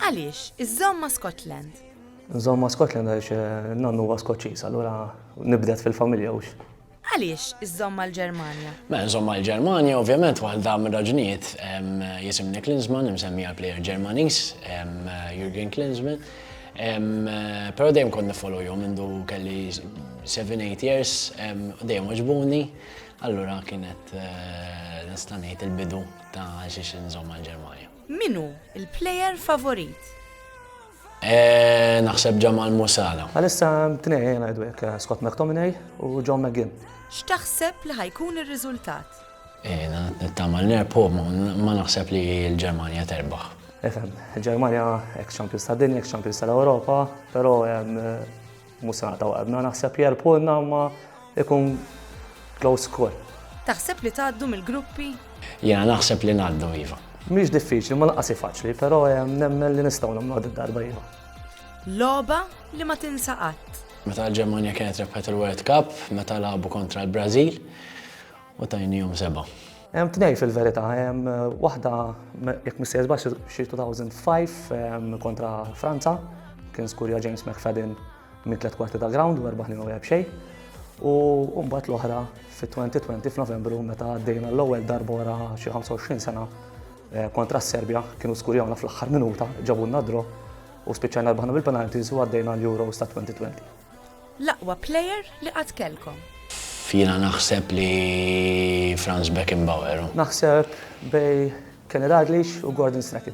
Għaliex iżżomm ma' Scotland? Nżomm ma' Scotland għaliex nannu huwa Skoċċiż, allura nibdet fil-familja hux. Għaliex iżżomm mal-Ġermanja? Mela nżomm mal-Ġermanja ovvjament waħda mir-raġunijiet jisimni Klinsmann, imsemmi għall-plejer Ġermaniż, Jurgen Klinsmann. Però dejjem kont niffollowhom mindu kelli seven, eight years, dejjem għaġbuni, allura kienet nista' ngħid il-bidu ta' għaliex inżomm mal-Ġermanja. Min hu l-player favorit? Naħseb Jamal Musala. Għalissa hemm tnejn ngħidu hekk, Scott McTominay u John McGinn. X'taħseb li ħa jkun ir-riżultat? Nittama li nerbħu, ma naħseb li l-Ġermanja terbaħ. Nifhem, il-Ġermanja ex-champions tad-dinja, ex-champions tal-Ewropa, però hemm Mhux se naqtgħu qalbna naħseb li għarpuna imma ikun close score. Taħseb li tgħaddu mill-gruppi? Jiena naħseb li ngħaddu iva. Mhix diffiċli, ma lanqas faċli, però eh, nemmen li nistgħu nagħmlu din darba iva. Loba li ma tinsa qatt. Meta l-Ġermanja kienet rebħet il-World Cup, meta labu kontra l-Brażil, u tajnihom seba'. Hemm tnejn fil-verità, hemm waħda jekk ma nsejħsbax xi 2005 kontra Franza, kien skurja James McFadden minn tliet kwarti ta' ground u erba' ħlin u xejn. U mbagħad l-oħra fit-2020 f'Novembru meta għaddejna l-ewwel darba wara xi 25 sena eh, kontra s-Serbja kienu skurjawna fl-aħħar minuta ġabulna dro u spiċċajna rbaħna bil-penalties u għaddejna l-Euros ta' 2020. L-aqwa player li qatt kellkom? Jiena naħseb li Franz Beckenbauer. Naħseb bej Kenny Dalglish u Gordon Strachan.